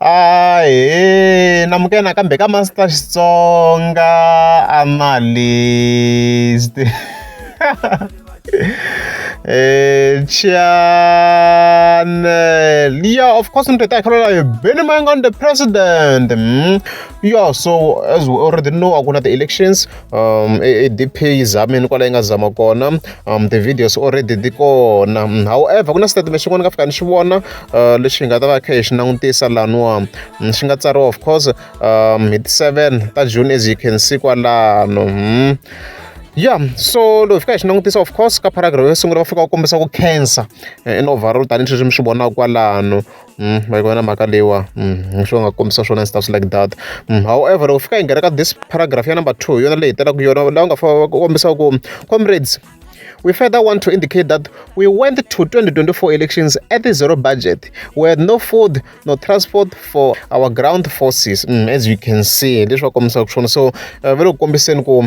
Ahee na muka nakambe ka Master Xitsonga a ma list-i channel yeah of course ntate a khalala yo Benny Mayengani the president mm. yeah so as we already know a ku na ti-elections um e, e dp yi zamini kwala yi nga zama kona um ti-videos already ti kona however ku na statement xin'wana ni nga fika ni xi vona uh, lexi hi nga ta va kha hi xi langutisa laniwa mm, xi nga tsariwa of course um hi ti-seven ta june as you can see kwalano hmm. ya so loko hi fika hi xi langutisa of course ka paragraph yo sungula va fika va kombisa ku cancer eh, in overall tanihi sweswi mi swi vonaka kwalano ma yi vona mhaka leyiwa hi swona va nga kombisa swona ndzi ta swi like that however loko fika hi nghena ka this paragraph ya number two hi yona leyi hetelelaka yona laha u nga fana ku kombisa ku comrades we further want to indicate that we went to 2024 elections at the zero budget we had no food no transport for our ground forces mm, as you can see leswi va kombisaka swona so uh, va le ku kombiseni ku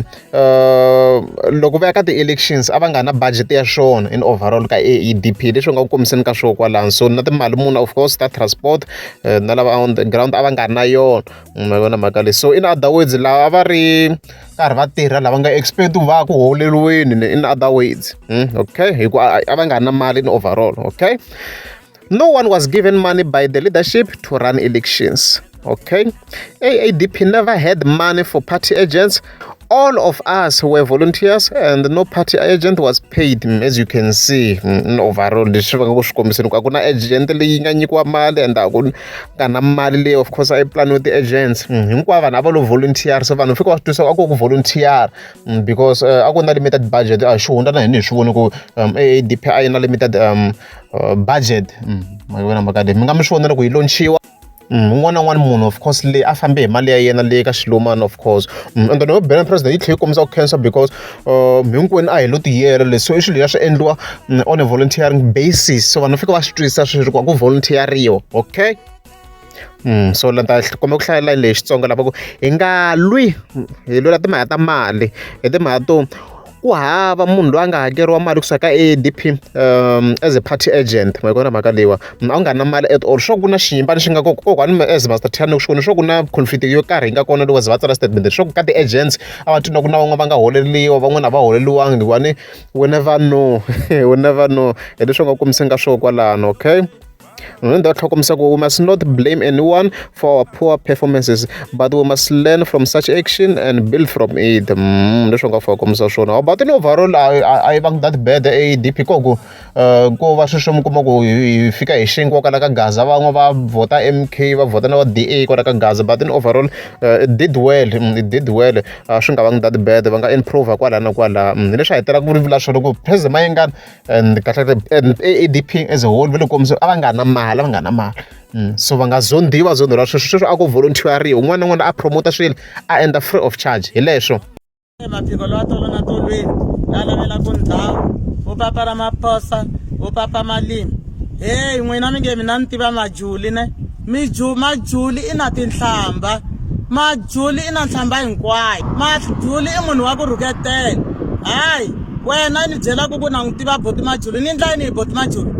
loko va ya ka ti-elections a va nga na budget ya swona in overall ka AEDP leswi nga ku kombiseni ka swona kwalano so na timali muni of course ta transport eh, na lava on the ground a va nga ri na yona mm, ma vona mhaka leyi so in other words lava va ri karhi va tirha lava nga expect va ku holeliweni in other words hmm, okay hikuva a va nga ri na mali in overall okay No one was given money by the leadership to run elections. Okay? AADP never had money for party agents. All of us were volunteers and no party agent was paid as you can see mm, in overall leswi va nga ku swi kombiseni ku a ku na agent leyi nga nyikiwa mali and a ku nga na mali leyi of course a yi planiwe ti-agents mm, hinkwavo vanhu a va lo volunteer so vanhu fika va swi twisa a ku ku volunteer mm, because eh, a ku na limited budget a hi swi hundza na hina hi swi voni ku um, aadp a yi na limited um, uh, budget mm, mi vona mhaka leyi mi nga mi swi vona loko yi lonchiwa Mm, un'wana na un'wana munhu of course leyi a fambe hi mali ya yena leyi ka xilumana of course mm, and then yo bela president yi tlhela yi kombisa ku cancer because uh, hinkwenu a hi lo tiyela leswi i swilo ya swi endliwa mm, on a volunteering basis so vanhu va fika va swi twisisa swi ri ku a ku volunteeriwa okay so ni ta kombela ku hlayela layini leyi Xitsonga lava ku hi nga lwi hi lwela timhaka ta mali hi timhaka to ku hava munhu loyi a nga hakeriwa mali kusuka ka A_D_P as a party agent ma yi vona mhaka leyiwa a wu nga ri na mali at all sure ku na xiyimo lexi nga kona kokwani mi as Master Thando sure sure ku na conflict yo karhi yi nga kona loko se va tsala statement sure ku ka ti-agents a va twi na ku na van'wana va nga holeriwa van'wana a va holeriwangi hikuva ni we never know we never know hi leswi u nga kumiseni ka swona kwalano okay. Remember that Hokomsako, we must not blame anyone for our poor performances, but we must learn from such action and build from it. Mm, leswi nga Hokomsa swona. But in overall, I, I, I bang that bad ADP kogo. Uh, ko va sweswi mi kuma ku hi fika hi xinkwa kwala ka gaza van'we va vhota mk va vhota na va da kwala ka gaza but in overall uh, it did well mm, it did well uh, swi nga vangi that bad va nga improve kwala na kwala mm, leswi hetelaka ku ri vula swona ku president mayengana and kahlekahle and adp as a whole va le kombiso a va nga na mali a va nga na mali mm, so va nga zondiwa zondiwa sweswo sweswo a ku volunteeriwa un'wana na un'wana a promota swilo a endla free of charge hi leswo maphiko lowa tolo na tolweni la lavela ku ndhawu u papa ra maphosa u papa malimi heyi n'wina mi nge mina ni tiva majuli ne Miju, Majuli i na tinhlambha. Majuli i na nhlambha hinkwayo. Majuli i munhu wa ku rhuketela. Hayi, wena i ni byelaka ku na n'wi tiva Buti Majuli. Ni endla yini hi Buti Majuli?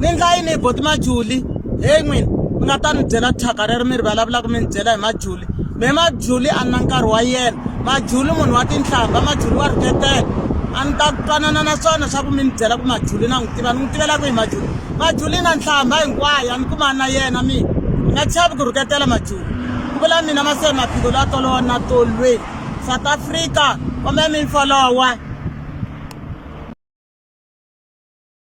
Ni endla yini hi Buti Majuli? Heyi n'wina, mi nga ta ni byela thyaka rero mi ri vulavulaka mi ni byela hi Majuli. Mehe Majuli a ni na nkarhi wa yena. Majuli i munhu wa tinhlambha, Majuli wa rhuketela. A ni ta twanana na swona swa ku mi ni byela ku Majuli na n'wi tiva. Ni n'wi tivela kwihi Majuli? majuli na nhlamba hinkwayo a ni kumani na yena mina ni nga chavi ku rhuketela majuli ku vula mina maseni maphiko loyi a tolowa na tolwe south africa kumbe mimfolowa